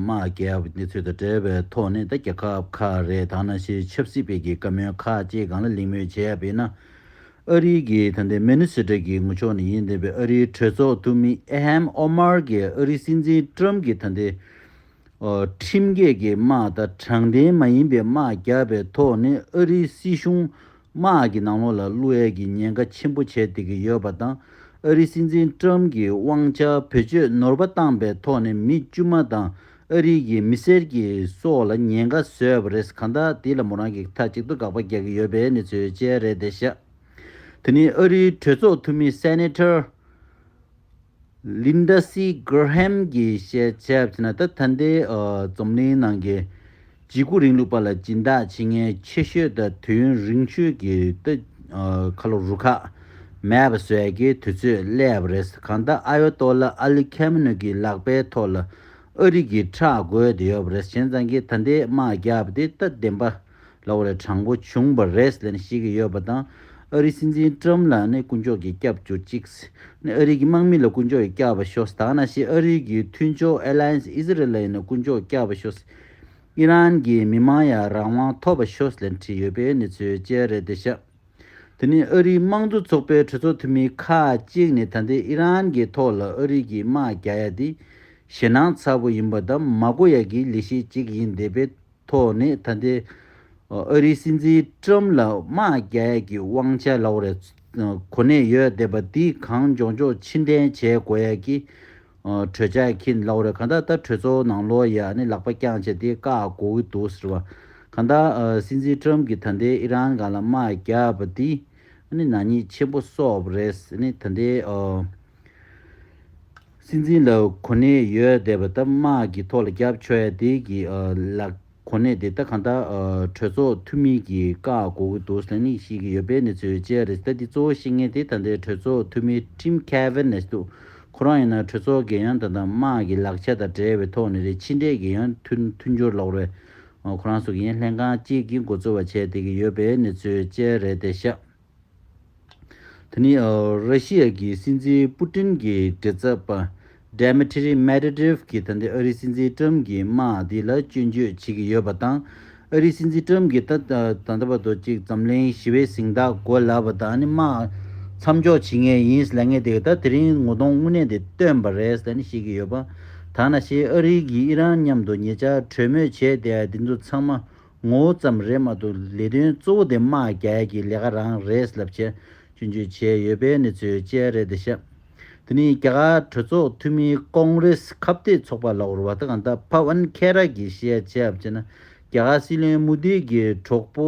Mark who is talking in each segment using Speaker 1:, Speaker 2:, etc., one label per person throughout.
Speaker 1: དམག་རྒྱག་པ་དེ་ཚོ་དང་བྲལ་བའི་ཐོག་ནས་ད་རྒྱ་ཁབ་ཁ་རེ་དང་ན་ཤི་ཆབ་སྲིད་བེད་ཀྱི་བཀའ་མོལ་ཁ་ཅིག་གང་ལ་ལིང་མོལ་བྱས་པས་ན། ཨ་རིའི་གི་ད་ལྟའི་མེ་ནི་སི་ཏྲ་གི་ངུ་ཕྱོགས་ནི་ཡིན་བདེན་པའི་ཨ་རིའི་གྲོས་ཚོགས་འཐུས་མི་ཨེ་ཧེམ་ཨོ་མར་གི་ཨ་རིའི་སྲིད་འཛིན་ཏྲམ་གི་ད་ལྟའི་ཁྲིམས་འགལ་གི་དམག་དང་དྲང་བདེན་མ་ཡིན་པའི་དམག་རྒྱག་པའི་ཐོག་ནས་ཨ་རིའི་སྲིད་གཞུང་དམག་གི་ནང་ལོགས་ལ་གླུ་དབྱངས་ཀྱི་ཉེན་ཁ་ཆེན་པོ་བྱས་བསྡད་ཀྱི་ཡོད་པ་དང་ཨ་རིའི་སྲིད་འཛིན་ཀྲམ་གྱིས་དབང་ཆ་བེད་སྤྱོད་ནོར་བ་བཏང་པའི་ཐོག་ནས་མི་དཀྱུས་མ་དང་ཨ་རིའི་གི་མི་སེར་གྱི་སོགས་ལ་ཉེན་ཁ་བཟོས་པ་རེད་གང་ལྟར་དེ་ལ་མོ་རང་གིས་མཐའ་གཅིག་ཏུ་དགག་པ་རྒྱག་གི་ཡོད་པའི་གནས་ཚུལ་བཅས་རེད་དེ་ཤ་དེ་ནི་ཨ་རིའི་གྲོས་ཚོགས་འཐུས་མི་སེ་ནེ་ཏར་ལིན་ད་སི་ཀེར་ཧེམ་གྱིས་བཤད་ཆ་ཕྱིན་ན་ད་ལྟ་འདི་འཛོམས་གླིང་ནང་གི་ཇི་དགུ་རིང་ལུགས་པ་ལ་སྦྱིན་བདག་བྱེད་མཁན་ཆེ་ཤོས་དང་དུས་ཡུན་རིང་ཤོས་ཀྱི་ཏི་ཁ་ལོ་རུ་ཁག་མེད་པ་བཟོས་རྒྱུའི་དུས་ཚོད་སླེབས་པ་རེད་གང་ལྟར་ཨ་ཡོ་ཏོ་ལ་ཨ་ལི་ཁེ་མི་ནུ་གྱི་ལག་པའི་ཐོག་ལ་ཨ་རིག་གི་ཁྲག་རྒོད་དེ་ཡོད་པ་རེད་གཞན་རྫང་གིས་ད་འདི་དམག་རྒྱག་པ་དེ་ད་བདེན་པ། ལ་བ་རེ་དྲང་པོ་བྱུང་བ་རེད་ལན་ཞིག་ཡོད་པ་དང་ཨ་རི་སྲིད་འཛིན་ཏྲམ་ལ་ནི་དཀོན་མཆོག་གིས་སྐྱབས་གྱུར་ཅིག་ནི་ཨ་རི་གི་དམག་མི་ལ་དཀོན་མཆོག་གིས་སྐྱབས་པ་ཤོག་ད་ན་ཤི་ཨ་རི་གི་མཐུན་ཕྱོགས Alliance Israel ལ་ཡིན་ན་དཀོན་མཆོག་སྐྱབས་པ་ཤོག་ཨི་རན་གི་མི་དམངས་ཡ་རང་དབང་ཐོབ་པ་ཤོག་ལན་བྲིས་ཡོད་པའི་གནས་ཚུལ་བཅས་རེད་དེ་ཤ་དེ་ནི་ཨ་རིའི་དམངས་གཙོ་ཚོགས་པའི་གྲོས་ཚོགས་འཐུས་མི་ཁ་ཅིག་ནི་ད་ལྟའི་ཨི་རན་གི་ཐོག་ལ་ཨ་རི་གི་དམག་རྒྱག་ཡ་དེ་ཞེ་སྣང་ཚ་པོ་ཡིན་པ་དང་མ་གོ་ཡ་གི་ལི་ཤེ་ཅིག་ཡིན་དེ་པེ། ཐོག་ནས་ད་ལྟའི་ཨ་རིའི་སྲིད་འཛིན་ཀྲུམ་ལ་དམག་རྒྱལ་གྱི་དབང་ཆ་ལོག་རེ་གོ་ནས་ཡོད་བསྡད་པ་འདི་གང་མགྱོགས་མགྱོགས་ཕྱིར་འདྲེན་བྱས་དགོས་ཡ་གི། གྲོས་འཆར་གྱིན་ལོག་རེ་གང་ད་ལྟ་གྲོས་ཚོགས་ནང་ལོག་ཡ་ནི་ལག་པ་རྐྱང་བྱས་ཏེ་བཀག་དགོས་གི་འདུག་ཟེར་བ། གང་ད་སྲིད་འཛིན་ཀྲུམ་གྱི་ད་ལྟའི་ཨི་རན་གང་ལ་དམག་རྒྱག་པ་འདི་ནི་ནག་ཉེས་ཆེན་པོ་གསོག་པ་རེད་ཟེར་ནས་ད་ལྟའི། སྲིད་འཛིན་ལ་གོ་གནས་ཡོད་བསྡད་པ་ལྟ་དམག་གི་ཐོག་ལ་རྒྱབ་ཆོས་ཡ་དེ་གི་ལ་གོ་གནས་དེ་ལྟ་གང་ལྟར་གྲོས་ཚོགས་འཐུས་མི་གི་བཀག་གོ་གི་འདུག་ཟེར་ནི་ཤེས་ཀྱི་ཡོད་པའི་གནས་ཚུལ་བཅས་རེད་ད་འདི་གཙོ་བོ་ཤེས་ངེས་དེ་ད་ལྟའི་གྲོས་ཚོགས་འཐུས་མི Tim Kavanagh འདུག་ཁོ་རང་ཡིན་ན་གྲོས་ཚོགས་འགན་ཡང་དང་དང་དམག་གི་ལག་ཆ་དང་བྲལ་བའི་ཐོག་ནས་རེད་ཕྱི་འབྲེལ་གྱི་ཡང་མཐུན་མཐུན་འགྱུར་ལོག་རེད་ཁོ་རང་སུ་གིན་ལྷན་ཁང་གཅིག་གི་འགོ་གཙོ་བ་བྱས་བསྡད་ཀྱི་ཡོད་པའི་གནས་ཚུལ་བཅས་རེད་དེ་ཤག། ད་ནི་ར་ཤི་ཡ་གི་སྲིད་འཛིན་པུ་ཏིན་གྱི་དྲི་རྩ་པ Dmitry Medvedev གྱིས་ད་ལྟའི་ཨ་རིའི་སྲིད་འཛིན Trump གྱི་དམག་འདི་ལ་སྐྱོན་བརྗོད་བྱེད་ཀྱི་ཡོད་པ་དང། ཨ་རིའི་སྲིད་འཛིན Trump གྱིས་ད་ད་ལྟ་བར་དུ་གཅིག་འཛམ་གླིང་ཞི་བའི་གཟེངས་རྟགས་གོ་ལ་བ་དང་དམག་མཚམས་འཇོག་བྱེད་ངེས་ཡིན་ལ་ངས་དེ་ད་དེ་རིང་ངོ་གདོང་དངོས་གནས་དེ་སྟོན་པ་རེད་ལ་བཤད་ཀྱི་ཡོད་པ་ད་ན་ཤེས་ཨ་རི་གིས་ཨི་རན་མཉམ་དུ་ཉེ་ཆར་གྲོས་མོལ་བྱས་ཏེ་འདི་ཚོ་ཚང་མ་ངོ་བོ་ཙམ་རེད་མ་གཏོགས་ལས་དོན་གཙོ་བོ་དེ་དམག་རྒྱལ་གྱི་ལས་ཀ་རང་རེད་ལབ་བྱས་སྐྱོན་བརྗོད་བྱས་ཡོད་པའི་གནས་ཚུལ་བཅས་རེད་འདི་ཤག་དེ་ནི་རྒྱ་གར་གྲོས་ཚོགས་འཐུས་མི་ཀོང་རེས་ཁ་བརྡའི་ཚོགས་པ་ལའོར་བྷ་ཏི་གྷ་འདྷ་བྷ་བྷན་ཁེ་ར་གྱིས་བཤད་བྱས་བྱས་ན་རྒྱ་གར་སྲིད་བློན་མུ་དྷི་གི་གྲོགས་པོ་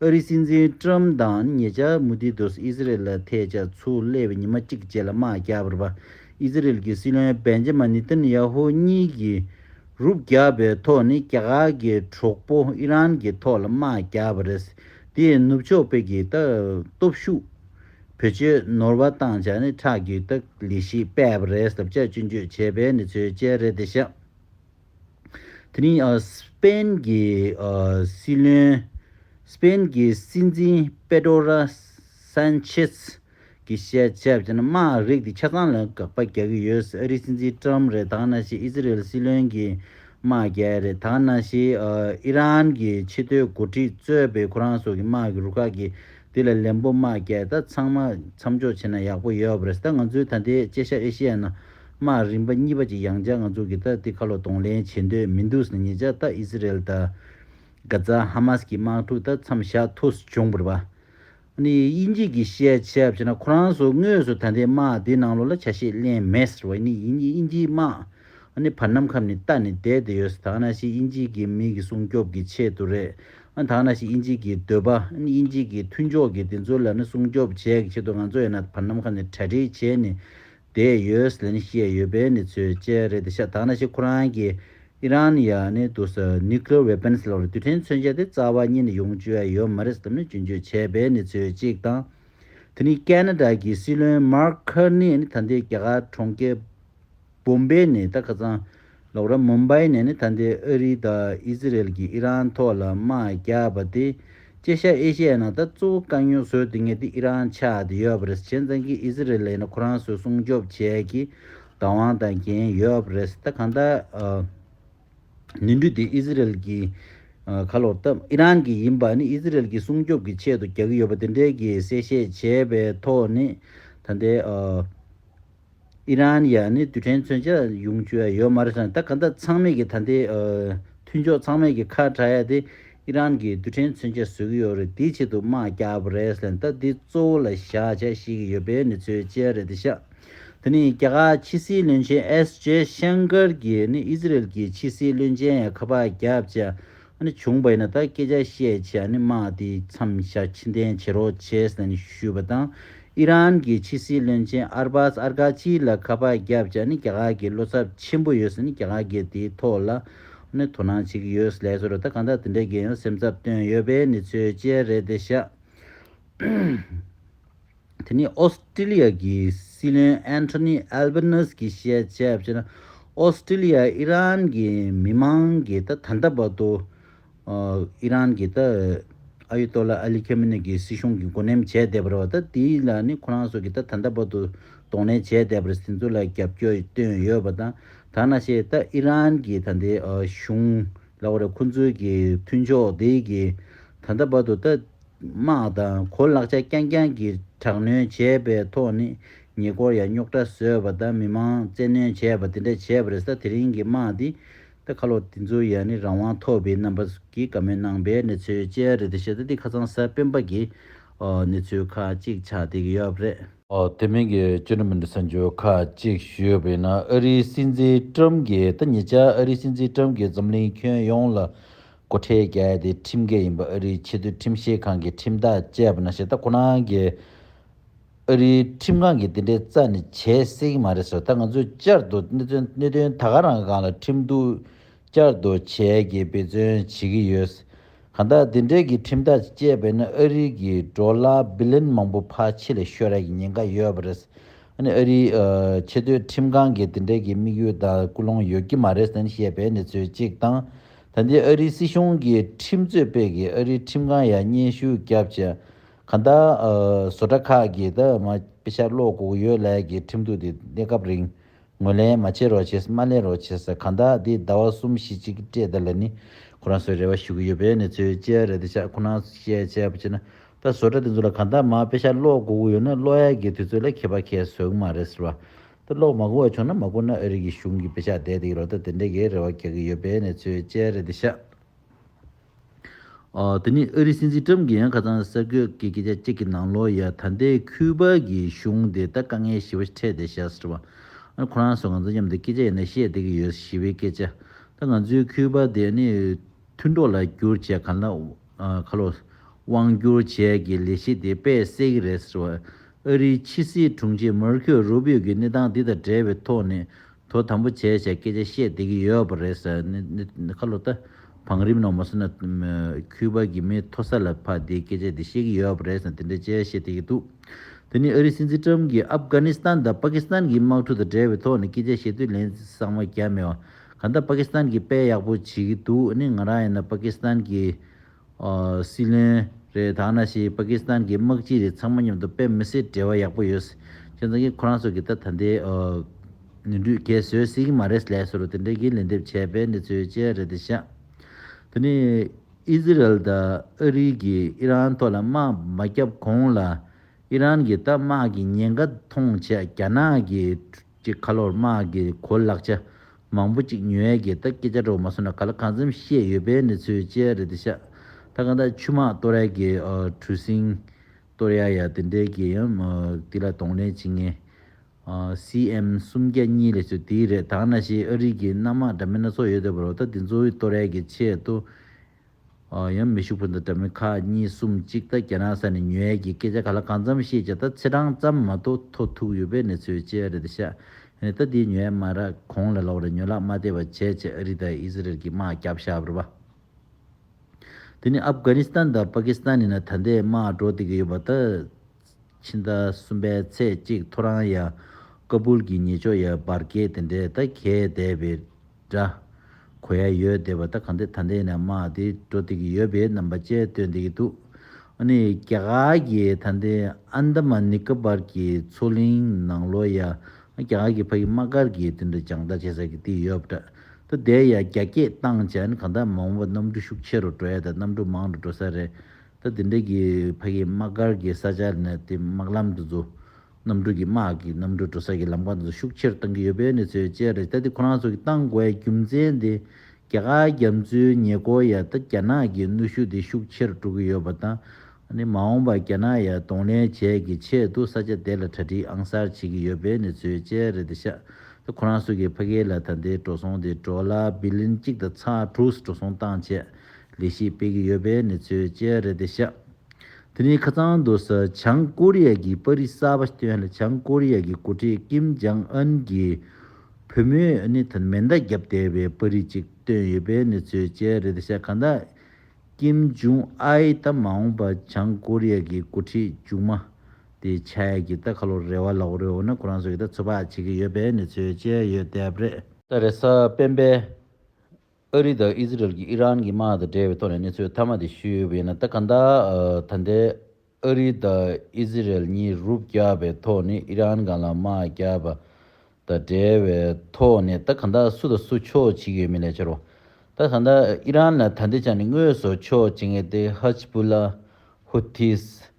Speaker 1: ཨ་རི་སྲིད་འཛིན་ཀྲུམ་དང་ཉེ་ཆར་མུ་དྷི་དུས་ཨི་ཟི་རེལ་ལ་ཐེ་བྱ་ཚུར་སླེབས་པའི་ཉི་མ་གཅིག་རྗེས་ལ་དམག་རྒྱལ་བྷར་བྷ་ཨི་ཟི་རེལ་གྱི་སྲིད་བློན་བན་ཇེ་མ་ནི་ཏན་ཡ་ཧོ་གཉིས་ཀྱིས་རུ་བརྒྱབ་པའི་ཐོག་ནི་རྒྱ་གར་གྱི་གྲོགས་པོ་ཨི་རན་གྱི་ཐོག་ལ་དམག་བརྒྱབ་པ་རེད། དེ་ཡིས་ནུབ་ཕྱོགས་བོད་ཀྱི་སྟོབས་ཤུགས་བེད་སྤྱོད་ནོར་བ་བཏང་བྱ་ནི་ཁྲག་རྒྱུད་ལྟ་ལི་ཞིག་སྤས་པ་རེད་ཟབ་ཆ་གཅུན་གཅོད་བྱས་པའི་ནི་ཚོའི་དཔྱད་རེད་དེ་ཤག་དེ་ནི Spain གྱི་སྲིད་བློན Spain གྱི་སྲིད་འཛིན Pedro Sanchez གི་བཤད་བྱ་བྱས་ན་དམའ་རིགས་དེ་ཆ་ཚང་ལ་དགག་པ་རྒྱག་གི་ཡོད་ཨ་རིའི་སྲིད་འཛིན Trump རེད་དང་ན་ཞེ་ཨི་ཟི་རེལ་སྲིད་བློན་གྱི་དམག་རྒྱལ་རེད་དང་ན་ཞེ་ཨི་རན་གྱི་ཕྱི་སྡོད་འགོ་ཁྲིད་གཙོས་པའི་ཁོ་རང་སོགས་ཀྱི་དམག་གི་རུ་ཁག་གི་དེ་ལ་ལན་པོ་དམག་རྒྱལ་ད་ཚང་མ་མཚམས་འཇོག་བྱེད་ན་ཡག་པོ་ཡོད་རེད་ད་ང་ཚོའི་ད་ལྟའི་ལྕེ་ཤ་ཨེ་ཤེ་ཡ་ན་དམག་རིམ་པ་གཉིས་པ་ཅིག་ཡང་བཅར་ང་ཚོ་གི་ད་དེ་ཁ་ལོ་གདོང་ལེན་བྱེད་འདོད་མི་འདུག་ཟེར་ངེད་ཅག་ད་ཨི་ཟི་རེལ་དང Gaza Hamas གི་དམག་འཁྲུག་ད་མཚམས་བཞག་ཐུགས་སུ་བྱུང་བར་བ། ནི་དབྱིན་ཇིས་ཀྱི་བཤད་བྱ་བྱས་ན་ཁོ་རང་ཚོ་དངོས་སུ་ད་ལྟའི་དམག་དེའི་ནང་ལོགས་ལ་ཆ་ཤས་གླེང་མེད་ཟེར་བ་ནི་དབྱིན་དབྱིན་ཇིའི་དམག་ནི་བར་ནམ་ཁམས་ནས་བལྟ་ནས་བསྡད་བསྡད་ཡོད་ཟེར་དག་ན་ཞིག་དབྱིན་ཇིའི་གི་མི་གི་སྲུང་སྐྱོབ་གི་ཆེད་དུ་རེད་དག་ན་ཞིག་དབྱིན་ཇིའི་གི་འདོད་པ་ནི་དབྱིན་ཇིའི་གི་མཐུན་ཕྱོགས་གི་དེ་ཚོའི་ལ་ནི་སྲུང་སྐྱོབ་བྱས་གི་ཆེད་དུ་ང་ཚོ་ཡིན་ན་བར་ནམ་ཁམས་ནས་གྲ་སྒྲིག་བྱས་ནས་དེ་ཡོས་ལན་བཤད་ཡོད་པའི་གནས་ཚུལ་བཅས་རེད་ཤ་ཐག་ན་ཤི་ཁོ་རང་གིས་ཨི་རན་ཡ་ནི་དུ་སུ Nuclear Weapons ལོར་དུས་དྲན་མཚོན་ཆ་དེ་རྩ་བ་ཉིད་ནས་ཡོང་བཅུ་ཡ་ཡོད་མ་རེད་བསམ་ནས་རྒྱུན་བཅོས་བྱས་པའི་གནས་ཚུལ་གཅིག་དང། དེ་ནི Canada གི་སྲིད་བློན Mark Carney ནི་ད་ལྟའི་རྒྱ་གར་གྲོང་ཁྱེར Bombay ནས་ད་ཁ་ཚང་ལོག་ར་མུམ་བཱི་ནས་ནི་ད་ལྟའི་ཨ་རི་དང་ཨི་ཟི་རེལ་གྱིས་ཨི་རན་ཐོག་ལ་དམག་རྒྱག་པ་དེ། ཅེ་ཤ་ཨེ་ཤེ་ཡའི་ནང་ད་གཙོ་བོ་དཀའ་རྙོག་བཟོས་འདི་ངས་དེ་ཨི་རན་ཆགས་བསྡད་ཡོད་པ་རེད་བྱས་མཚན་གྱིས་ཨི་ཟི་རེ་ལས་ནི་ཁོ་རང་ཚོས་སྲུང་སྐྱོབ་བྱས་ཀྱི་བདག་དབང་དང་འགན་ཡོད་པ་རེད་ད་གང་ལྟར། ནུས་འདུས་དེ་ཨི་ཟི་རེལ་གྱིས་ཁ་ལོ་བཏབ་ཨི་རན་གྱི་ཡིན་པ་ནི་ཨི་ཟི་རེལ་གྱིས་སྲུང་སྐྱོབ་ཀྱི་ཆེད་དུ་རྒྱག་གི་ཡོད་པ་དེ་འདྲའི་གྱི་གསལ་བཤད་བྱས་པའི་ཐོག་ནས་ད་ལྟའི། ཨི་རན་ཡ་ནི་རྡུལ་ཕྲན་མཚོན་ཆ་ཡོང་རྒྱུ་ཡ་ཡོད་མ་རེད་བསམ་ད་ག་ད་ཚང་མེད་ཀྱི་ད་ལྟའི་མཐུན་ཕྱོགས་ཚང་མེད་ཀྱི་ཁ་གྲགས་ཡ་དེ་ཨི་རན་གྱིས་རྡུལ་ཕྲན་མཚོན་ཆ་བཟོས་ཀྱི་ཡོད་རེད་དེའི་ཆེད་དུ་དམག་རྒྱག་པ་རེད་ལན་ད་འདི་གཙོ་བོ་ལ་བཞག་བྱ་ཤེས་ཀྱི་ཡོད་པའི་ནི་ཚོའི་དཔྱད་རེད་དེ་ཤ་དེ་ནི་རྒྱ་གར་ཕྱི་སྲིད་བློན་ཆེན་ཨེས་ཇེ་ཤངྐར་གྱིས་ནི་ཨི་ཟི་རེལ་གྱི་ཕྱི་སྲིད་བློན་ཆེན་ཡ་ཁ་པར་རྒྱབ་བྱ་ཨ་ནི་བྱུང་བ་ཡིན་ན་ད་སྐད་ཆ་བཤད་ཆེད་ཨ་ནི་དམག་དེ་མཚམས་བཞག་ཕྱི་འཐེན་བྱེད་རོགས་བྱས་ཟེར་ནས་ཞུས་པ་དང་ཨི་རན་གྱི་ཕྱི་སྲིད་བློན་ཆེན་ཨར་སྦཱས་ཨར་གྷ་ཆིའི་ལ་ཁ་པར་བརྒྱབ་ཅེ་ཨ་ནི་རྒྱ་གར་གྱི་བློ་འཚབ་ཆེན་པོ་ཡོད་ཟེར་ནས་རྒྱ་གར་གྱིས་དེའི་ཐོག་ལ་ཨ་ནི་དོ་སྣང་བྱེད་ཀྱི་ཡོད་ཟེར་ལས་སོར་ད་གང་ལྟར་དེ་འདྲའི་རྒན་ཡོལ་སེམས་འཚབ་བཏོན་ཡོད་པའི་ནི་ཚོད་ཅལ་རེད་དེ་ཤག། དེ་ནི་ཨོ་སི་ཀྲི་ལི་ཡ་གི་སྲིད་བློན་ཨན་ཐོ་ནི་ཨལ་བྷ་ནེ་སི་གིས་བཤད་བྱས་པ་ལྟར་ན་ཨོ་སི་ཀྲི་ལི་ཡའི་ཨི་རན་གྱི་མི་མང་གིས་ད་ད་ལྟ་བར་དུ་ཨི་རན་གྱི་ཨ་ཡུ་ཏོ་ལ་ཨ་ལི་ཁེ་མི་ནེ་ཀྱི་སྲིད་གཞུང་གི་འགོ་ནེམ་བྱས་བསྡད་པ་རེད་བ་ད་དེ་ལ་ནི་ཁོ་རང་སོགས་ཀྱིས་ད་ད་ལྟ་བར་དུ་གདོང་ལེན་བྱས་བསྡད་པར་ཟིན་ཚོ་ལ་རྒྱབ་སྐྱོར་བཏོན་ཡོད་བ་དང་ད་ན་ཞེས་ད་ཨི་རན་གྱི་ད་ལྟའི་གཞུང་ལ་བ་རེད་ཁོ་ཚོའི་གི་མཐུན་ཕྱོགས་དེ་གིས་ད་ད་བར་དུ་ད། དམག་དང་གོ་ལག་ཆ་རྐྱང་རྐྱང་གིས་དྲག་གནོན་བྱས་པའི་ཐོག་ནས་ཉེ་འཁོར་ཡང་རྙོག་དྲ་བཟོས་པ་དང་མི་མང་བཙན་གནོན་བྱས་པ་དེ་འདྲ་བྱས་པ་རེད་ས་དེ་རིང་གི་དམག་འདི་ད་ཁ་ལོ་དེ་ཚོ་ཡང་ནི་རང་དབང་ཐོབ་པའི་རྣམ་པ་གྱི་དགའ་མོས་གནང་པའི་གནས་ཚུལ་ཅན་རེད་དེ་བཞིན་དུ་འདི་ཁ་ཚང་ས་སྤེན་པ་གི་གནས་ཚུལ་ཁག་ཅིག་ཆགས་བསྡད་ཀྱི་ཡོད་རེད། དེ་མིན་གྱི་བཅུ་ནུབ་མི་འདྲ་ས་འགྱུར་ཁག་ཅིག་ཞུས་པ་ཡིན་ན་ཨ་རིའི་སྲིད་འཛིན་ཀྲུམ་གྱིས་ད་ཉེ་ཆར་ཨ་རིའི་སྲིད་འཛིན་ཀྲུམ་གྱིས་འཛམ་གླིང་ཁྱོན་ཡོངས་ལ་སྒོ་ཁྲལ་བརྒྱ་དེ་ཁྲིམས་འགལ་ཡིན་པ་ཨ་རིའི་ཆེས་མཐོའི་ཁྲིམས་བཤེར་ཁང་གི་ཁྲིམས་ཐག་བཅད་པ་ན་ཞེ་ད་ཁོ་རང་གིས། ཨ་རིའི་ཁྲིམས་ཁང་གིས་དེ་འདྲའི་རྩ་ནས་བྱས་སྲིད་ཀྱི་མ་རེད་ཟེར། ད་ང་ཚོས་བསྐྱར་དུ་གནད་དོན་ད་ག་རང་གང་ལ་ཁྲིམས་གཏུག་བསྐྱར་དུ་བྱས་ཀྱིས་འབད་བརྩོན་བྱེད་ཀྱི་ཡོད། གང་ལྟར་དེ་འདྲའི་གི་ཁྲིམས་ཐག་བཅད་པས་ན་ཨ་རི་གི་འགྲོ་ལ་བི་ལན་མང་པོ་ཕར་ཕྱི་ལ་ཤོར་རག་གི་ཉེན་ཁ་ཡོད་པ་རེད། ཨ་ནི་ཨ་རིའི་ཆེས་མཐོའི་ཁྲིམས་ཁང་གིས་དེ་འདྲའི་གི་དམིགས་ཡུལ་དང་ཀུན་སློང་ཡོད་ཀྱི་མ་རེད་བཤད་པའི་གནས་ཚུལ་གཅིག་དང། ད་ལྟའི་ཨ་རིའི་སྲིད་གཞུང་གི་ཁྲིམས་རྩོད་དཔེ་གིས་ཨ་རིའི་ཁྲིམས་ཁང་ཡ་བསྙེན་ཞུ་བརྒྱབ་ཅེ་ག་ད་བཟོ་གྲ་ཁག་གི་ད་མ་དཔེ་ཆ་ཀློག་དགོས་ཡོད་ལད་གི་ཁྲིམས་གཏུག་དེ་གནས་སྐབས་རིང་ངོས་ལེན་མ་བྱེད་རོགས་བྱེད་མ་ལེན་རོགས་བྱེད་ཟེར་ག་ད་དེ་ཟླ་བ་གསུམ་བཞི་ཅིག་སྤྲད་ད་ལ་ནི་ཁོ་རང་ཚོའི་རེ་བ་ཞུ་གི་ཡོད་པའི་ནི་ཚོའི་སྤྱི་ཡ་རེད་ད་ཆ་ཁོ་ན་བཤད་བྱས་པ་བྱས་ན་ད་བཟོ་གྲ་དེ་ཚོ་ལ་ག་ད་མ་དཔེ་ཆ་ཀློག་དགོས་ཡོད་ན་ཀློག་ཡ་གི་དུས་ཚོད་ལ་ཁེ་པ་ཁེ་ཟོས་གི་མ་རེད་ཟེར་བ་དུ་གློག་མ་གོ་བ་བྱུང་ན་མ་གོ་ན་ཨ་རིག་གི་གཞུང་གི་བེ་ཤ་བསྡད་དེ་ཡི་རོགས་ད་དེ་འདྲས་ཀྱི་རེ་བ་རྒྱག་གི་ཡོད་པའི་ནས་ཚོའི་དཔྱད་རེད་འདི་ཤག། དེ་ནི་ཨ་རིའི་སྲིད་འཛིན་ཀྲམ་གྱི་ཡང་ཁ་ཚང་གསར་འགོད་ཀྱི་སྐད་ཆ་གཅིག་གི་ནང་ལོ་ཡ་ད་ལྟའི་ཁུའུ་པ་གི་གཞུང་དེ་ད་དཀའ་ངལ་ཞི་བ་ཕྲད་དེ་ཤག་ཟེར་བ། ཨ་ཁོ་རང་ཚོ་ང་ཚོ་མཉམ་དུ་སྐད་ཆ་ཡིན་ན་བཤད་བསྡད་ཀྱི་ཡོད་ཞི་བའི་སྐད་ཆ་ད་ང་ཚོའི་ཁུའུ་པ་དེ་ཨ་ནི། མཐུན་གྲོགས་ལ་སྒྱུར་བྱས་ག་ལ་ག་ལོ། དབང་སྒྱུར་བྱས་ཀྱི་ལས་གཞི་དེ་དཔེ་གསལ་གྱི་རེད་ཟེར་བ། ཨ་རིའི་ཕྱི་སྲིད་དྲུང་ཆེས་མར་ཁེའོ་རུ་བིའོ་གི་གནས་སྟངས་འདི་དང་འབྲེལ་བའི་ཐོག་ནས་དོ་དམ་པོ་བྱས་བྱས་སྐད་ཆ་བཤད་བསྡད་ཀྱི་ཡོད་པ་རེད་ཟེར་ག་ལོ། བང་རིམ་ནང་མ་སོང་ན་ཁུའུ་པཱ་གི་མི་མཐོ་ས་ལ་ཕ་བདེའི་སྐད་ཆ་འདི་བཤད་ཀྱི་ཡོད་པ་རེད་ཟེར་དེ་འདྲའི་སྐད་ཆ་བཤད་བསྡད་ཀྱི་འདུག་དེ་ནི་ཨ་རིའི་སྲིད་འཛིན་ཀྲམ་གྱིས་ཨབ་གྷ་ནི་སི་ཐན་དང་པཱ་ཀི་སི་ཐན་གྱི་དམག་འཁྲུག་དང་འབྲེལ་བའི་ཐོག་ནས་སྐད་ཆ་བཤད་དུས་ལན་གསང་བ་རྒྱབ་མེད་པ། ག་ད་པ་ཀི་སི་ཐན་གི་དཔེ་ཡག་པོ་བྱེད་གི་འདུག་ཨ་ནི་ང་རང་ཡིན་ན་པ་ཀི་སི་ཐན་གི་སྲིད་བློན་རེད་ད་ང་ཞིག་པ་ཀི་སི་ཐན་གི་དམག་སྤྱི་རེད་ཚང་མ་མཉམ་དུ་དཔེ་མི་སྲིད་འབྲེལ་བ་ཡག་པོ་ཡོད་ཁྱོད་ཚང་གི་ཁོ་རང་ཚོ་གི་ད་ད་འདི་ནུས་འདུས་གས་བཟོས་སྲིད་གི་མ་རེད་ལས་སོ་རུ་དེ་འདྲས་གི་ལན་འདེབས་བྱས་པའི་གནས་ཚུལ་བཅས་རེད་དེ་ཤ་དེ་ནི་ཨི་ཟི་རལ་ད་ཨ་རི་གི་ཨི་རན་ཐོག་ལ་དམག་མ་བརྒྱབ་གོང་ལ་ཨི་རན་གི་ད་དམག་གི་ཉེན་ཁ་མཐོང་བྱས་རྒྱ་ནག་གི་ཀྱི་ཁ་ལོར་དམག་གི་གོ་ལག་ཆ་མང་པོ་ཅིག་ཉོས་ཡས་ཀྱི་ད་སྐད་ཆ་སྒྲོག་མ་སོང་ན་ག་ལ་གང་འཚམ་བཤད་ཡོད་པའི་གནས་ཚུལ་ཅི་ཡ་རེད་དེ་ཤ་ད་གང་ད་ཆུ་དམག་ཏོ་ར་ཡ་གི་གྲུ་གཟིངས་གཏོར་ཡ་ཡ་དེ་འདྲས་ཀྱི་ཡང་དེ་ལ་གདོང་ལེན་བྱེད་ངེས། CM སུམ་བརྒྱ་གཉིས་ལས་ཚོད་དེའི་རེད་ད་ང་ན་ཞིག་ཨ་རིག་གི་གནམ་དམག་འདྲ་མིན་སྣ་ཚོགས་ཡོད་འདོད་པ་རོ་ད་དེ་ཚོའི་ཏོ་ར་ཡ་གི་ཆེད་དུ་ཡང་མི་ཤུགས་པོ་འདི་འདྲ་མི་ཁ་གཉིས་གསུམ་གཅིག་ད་རྒྱ་ནག་ས་ནས་ཉོས་ཡས་ཀྱི་སྐད་ཆ་ག་ལ་གང་འཚམས་བཤད་ཀྱི་ད་ཚེ་གྲངས་ཙམ་མ་གཏོགས་མཐོ་ཐུག་ཡོད་པའི་གནས་ཚུལ་ཅི་རེད་ཤ་ཡེ་ད་འདི་ཉོས་ཡས་མ་ར་གོང་ལ་ལོག་རེ་ཉོས་ལག་མ་བལྟས་པ་བྱས་བྱས་ཨ་རི་ད་ཨི་ཟི་རལ་གྱི་དམག་རྒྱབ་ཤག་བར་བ་དེ་ནི་ཨབ་གྷ་ནི་སི་ཐན་ད་པ་ཀི་སི་ཐན་ནི་ན་ད་འདས་དམག་འགྲོ་བསྡད་ཀྱི་ཡོད་པ་ད། ཕྱི་ཟླ་གསུམ་པའི་ཚེས་གཅིག་ཐོ་རངས་ཡ་ཀ་བུལ་གྱི་ཉེ་ཕྱོགས་ཡ་འབར་གས་དེ་འདྲས་ད་གས་བསྡད་པའི་འདྲ། གོ་ཡ་ཡོད་བསྡད་པ་ད་ག་འདི་ད་འདི་ནས་དམག་འདི་འགྲོ་བསྡད་ཀྱི་ཡོད་པའི་རྣམ་པ་བཅས་སྟོན་བསྡད་ཀྱི་འདུག་ཨ་ནི་རྒྱ་གར་གྱི་ད་འདི་ཨན་དམ་ནི་ཀ་བར་གྱི་མཚོ་གླིང་ནང་ལོ་ཡ་རྒྱ་གར་གྱི་ཕ་གི་དམག་སྒར་གྱི་དེ་འདྲ་རྒྱང་ལྟ་བྱེད་ས་གི་དེ་ཡོད་པ་འདྲ། ད་འདས་ཡ་རྒྱ་སྐྱེད་བཏང་བྱས་ཨ་ནི་ག་འདའ་མང་བོ་པ་གནམ་གྲུ་ཤུགས་ཆེ་རུ་འགྲོ་ཡ་ད་གནམ་གྲུ་མང་རུ་འགྲོ་ས་རེད་ད་དེ་འདྲས་ཀྱི་ཕ་ཡིས་དམག་སྒར་གྱི་ས་ཆ་ནས་དེ་དམག་ལམ་དུ་འཛུགས། གནམ་གྲུ་གྱི་དམག་གིས་གནམ་གྲུ་འགྲོ་ས་ཀྱི་ལམ་ཁ་དེ་ཚོ་ཤུགས་ཆེར་བཏང་གི་ཡོད་པའི་གནས་ཚུལ་བཅས་རེད་ད་དེ་ཁོ་རང་ཚོ་གིས་བཏང་དགོས་པའི་རྒྱུ་མཚན་དེ་རྒྱ་གར་རྒྱ་མཚོའི་ཉེ་སྐོར་ཡ་ད་རྒྱ་ནག་གི་གནོད་ཤུགས་དེ་ཤུགས་ཆེར་སྤྲོ་གི་ཡོད་པ་དང། མ་འོངས་པར་རྒྱ་ནག་ཡ་གདོང་ལེན་བྱས་ཀྱི་ཆེད་དུ་ས་ཆ་དེ་ལ་གྲ་སྒྲིག་ཨང་གསར་བྱེད་ཀྱི་ཡོད་པའི་གནས་ཚུལ་བཅས་རེད་དེ་ཤ་ད་ཁོ་རང་ཚོ་གིས་ཕ་གི་ལ་ད་དེ་འགྲོ་སོང་དེ་འགྲོ་ལ་བི་ལིན་གཅིག་དང་ཚ་དྲུག་འགྲོ་སོང་བཏང་ཆེད་ལས་གཞི་སྤེལ་གྱི་ཡོད་པའི་གནས་ཚུལ་བཅས་རེད་དེ་ཤག་དེ་རིང་ཁ་ཚང་དུ་ས་བྱང་ཀོ་རི་ཡ་གི་པར་རིས་གསར་པ་བཏོན་ལ་བྱང་ཀོ་རི་ཡ་གི་འགོ་ཁྲིད་ཀིམ་ཇང་ཨན་གྱི་བུ་མོས་ནི་དང་མེ་མདའ་བརྒྱབ་བསྡད་པའི་པར་རིས་ཅིག་བཏོན་ཡོད་པའི་གནས་ཚུལ་བཅས་རེད་དེ་ཤག་གང་ལྟར་ཀིམ་ཇུང་ཨའི་ད་མ་འོངས་པ་བྱང་ཀོ་རི་ཡ་གི་འགོ་ཁྲིད་མཇུག་མ་དེ་ཆ་ཡ་གྱི་ད་ཁ་ལོ་རེ་བ་ལ་འོ་རེ་འོ་ན་ཁོ་རང་ཚོ་གྱི་ད་ཚོད་དཔག་བྱེད་ཀྱི་ཡོད་པའི་གནས་ཚུལ་བཅས་ཡོད་དེ་རེད། ད་རེས་སྤེན་པའི་ཨ་རི་དང་ཨིས་ར་ཨེལ་གྱིས་ཨི་རན་གྱི་དམག་དང་འབྲེལ་བའི་ཐོག་ནས་གནས་ཚུལ་མཐའ་མ་དེ་ཞུས་ཡོད་པ་ཡིན་ན་ད་ག་ད་ད་ལྟའི་ཨ་རི་དང་ཨིས་ར་ཨེལ་གཉིས་རུབ་བཀྱགས་པའི་ཐོག་ནས་ཨི་རན་གང་ལ་དམག་བརྒྱབ་པ་དང་འབྲེལ་བའི་ཐོག་ནས་ད་ག་ད་སུ་དང་སུ་ཕྱོགས་བྱེད་ཀྱི་ཡོད་མེད་ལས་ཆེ་རུ་ད་ག་ད་ཨི་རན་ལ་ད་ལྟའི་ཆ་ནས་དངོས་སུ་ཕྱོགས་བྱེད་མཁན་དེ་ཧཱ་ཇི་བུ་ལཱ། Houthis།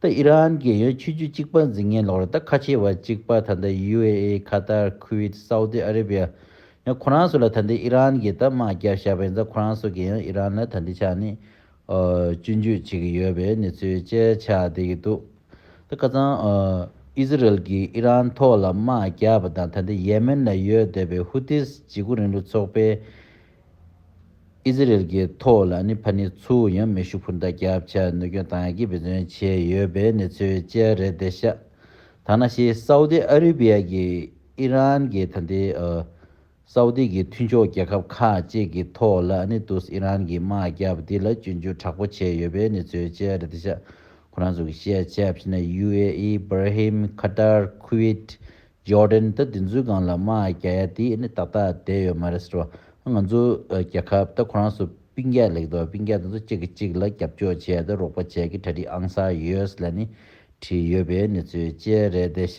Speaker 1: ད་ཨི་རན་རྒྱལ་ཡོངས་ཆོས་བརྒྱུད་གཅིག་པ་འཛིན་མཁན་ལོག་རེད་ད་ཁ་ཆེ་བ་གཅིག་པ་ད་ལྟ་ཡུ་ཨེ་ཨེ་ཁ་ཏར་ཁུ་ཝེད་སའུ་ཏི་ཨ་རེ་བྷི་ཡ་ཡང་ཁོ་རང་སོགས་ལ་ད་འདི་ཨི་རན་གྱི་ད་དམག་རྒྱག་བཞག་པ་ཡིན་ཙང་ཁོ་རང་སོགས་རྒྱལ་ཡོངས་ཨི་རན་ལ་ད་འདི་ཆ་ནས་བཅུ་འཇུག་བྱེད་ཀྱི་ཡོད་པའི་གནས་ཚུལ་དཔྱད་ཆ་བསྡད་ཀྱི་འདུག་ད་ཁ་ཙང་ཨི་ཟི་རེལ་གྱིས་ཨི་རན་ཐོག་ལ་དམག་རྒྱག་པ་དང་ད་འདི་ཡེ་མེན་ལ་ཡོད་སྡོད་པའི་ཧུ་ཏིས་འཇིགས་སྐུལ་རིང་ལུགས་ཚོགས་པའི། ཨི་ཟི་རེལ་གྱི་ཐོག་ལ་ནི་ཕ་ནི་ཚུ་བོ་ཡང་མེ་ཤུགས་འཕུར་མདའ་རྒྱབ་ཆ་གནོད་སྐྱོན་དང་ཀི་བེད་བརྩོན་བྱས་ཡོད་པའི་གནས་ཚུལ་བཅས་རེད་དེ་ཤ་ཐ་ན་ཤི་སའུ་ཏི་ཨ་རི་བྷི་ཡ་གྱི་ཨི་རན་གྱི་ད་ནི་སའུ་ཏི་གྱི་མཐུན་ཕྱོགས་རྒྱལ་ཁབ་ཁག་ཅིག་གི་ཐོག་ལ་ནི་ཏུས་ཨི་རན་གྱི་དམག་རྒྱབ་འདི་ལ་སྐྱོན་བརྗོད་དྲག་པོ་བྱས་ཡོད་པའི་གནས་ཚུལ་བཅས་རེད་དེ་ཤ་ཁོ་རང་ཚོ་གི་ཤེས་བྱ་ཕྱི་ནས་ཡུ་ཨེ་ཨི་བྷར་ཧིམ་ཁ་ཏར་ཁུ་ཝེད Jordan ད་དེ་ཚོའི་སྒང་ལ་དམག་རྒྱ་ཡ་དེ་ནི་ཏག་ཏག་བསྡད་ཡོད་མ་རེད་ཟེར་བ། ང་ཚོ་རྒྱལ་ཁབ་ད་ཁོ་རང་ཚོ་དཔིང་རྒྱག་ལེགས་འདུག་དཔིང་རྒྱག་དེ་ཚོ་གཅིག་གིས་གཅིག་ལ་རྒྱབ་སྐྱོར་བྱས་ཏེ་རོགས་པ་བྱས་ཀི་གྲ་སྒྲིག་ཨང་གསར US ལ་ནི་བྲིས་ཡོད་པའི་གནས་ཚུལ་བཅས་རེད་དེ་ཤ་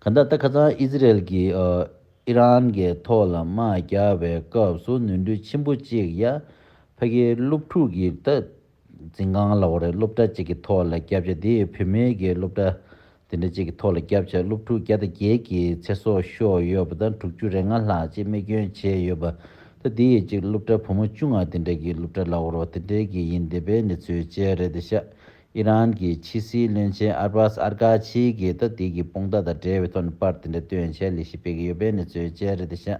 Speaker 1: ག་འདྲ་ད་ཁ་ཚང Israel གིས Iran གི་ཐོག་ལ་དམག་རྒྱག་པའི་སྐབས་སུ་ནོར་འཁྲུལ་ཆེན་པོ་གཅིག་ཡ་ཕ་གིའི་སློབ་ཕྲུག་གིས་ད། འཛིན་ཁང་ལ་འོ་རེ་སློབ་གྲྭ་གཅིག་གི་ཐོག་ལ་སྐྱབས་བཅས་དེ་ཡིས་བུད་མེད་ཀྱི་སློབ་གྲྭ་དེ་འདྲ་གཅིག་གི་ཐོག་ལ་སྐྱབས་བཅས་སློབ་ཕྲུག་བརྒྱ་དང་བརྒྱད་ཀྱི་ཚེ་སྲོག་ཤོར་ཡོད་པ་དང་དྲུག་ཅུ་རེ་ལྔ་ལྷག་ཅིག་རྨས་སྐྱོན་བྱས་ཡོད་པ་དང་དེ་ཡིས་གཅིག་སློབ་གྲྭ་བུ་མོ་བཅུ་ལྔ་དེ་འདྲ་གི་སློབ་གྲྭ་ལ་འོ་རོ་དེ་འདྲ་གི་ཡིན་འདི་པའི་གནས་ཚུལ་བཅས་རེད་དེ་ཤ་ཨི་རན་གྱི་ཕྱི་སྲིད་བློན་ཆེན་ཨར་བཱས་ཨར་ཀ་ཆི་གིས་ད་དུས་ཀྱི་དཔུང་རྟགས་དང་འབྲེལ་བའི་ཐོག་ནས་པར་དེ་འདྲ་བཏོན་ཆེད་ལས་གཞི་སྤེལ་གྱི་ཡོད་པའི་གནས་ཚུལ་བཅས་རེད་དེ་ཤ།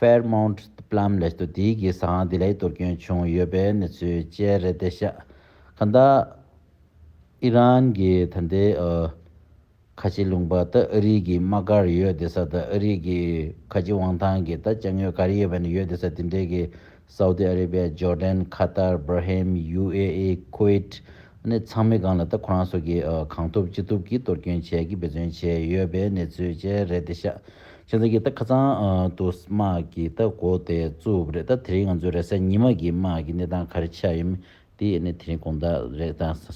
Speaker 1: Fairmount Plum ལས་སྟོད་དུས་ཀྱི་ས་ཨང་དེ་ལས་གཏོར་སྐྱོན་བྱུང་ཡོད་པའི་གནས་ཚུལ་བཅས་རེད་བདེ་གཤེགས། གང་ལྟར། ཨི་རན་གྱི་ད་ལྟའི་ཁ་ལྕེ་ལུང་པ་ད་ཨ་རིག་གི་དམག་སྒར་ཡོད་བདེ་ས་ད་ཨ་རིག་གི་ཁ་ལྕེ་དབང་ཐང་གི་ད་ལྕགས་སྨྱོས་གར་ཡོད་པ་ནི་ཡོད་བདེ་ས་དེ་འདྲའི་གི་སའུ་ཏི་ཨ་རི་བྷེ། ཇོར་དན། ཁ་ཏར། བྷིར་ཧེམ། ཡུ་ཨེ་ཨི། ཁོ་ཨིཏ། ནས་ཚང་མའི་སྒང་ལ་ད་ཁོ་རང་སོགས་ཀྱིས་གང་ཐུབ་ཅི་ཐུབ་ཀྱིས་གཏོར་སྐྱོན་བྱས་ཀྱིས་འབད་བརྩོན་བྱས་ཡོད་པའི་གནས་ཚུལ་བཅས་རེད་དེ་ཤ་ཆེན་ཚང་གིས་ད་ཁ་ཚང་དུ་དམག་གིས་ད་མགོ་དེ་བཙུགས་རེད་ད་དེ་རིང་ང་ཚོའི་རེས་གཟའ་ཉི་མ་གྱི་དམག་གི་གནས་སྟངས་ག་རེ་ཆགས་ཡོད་མེད་དེ་ནས་དེ་རིང་དགོངས་དག་རེད་ད།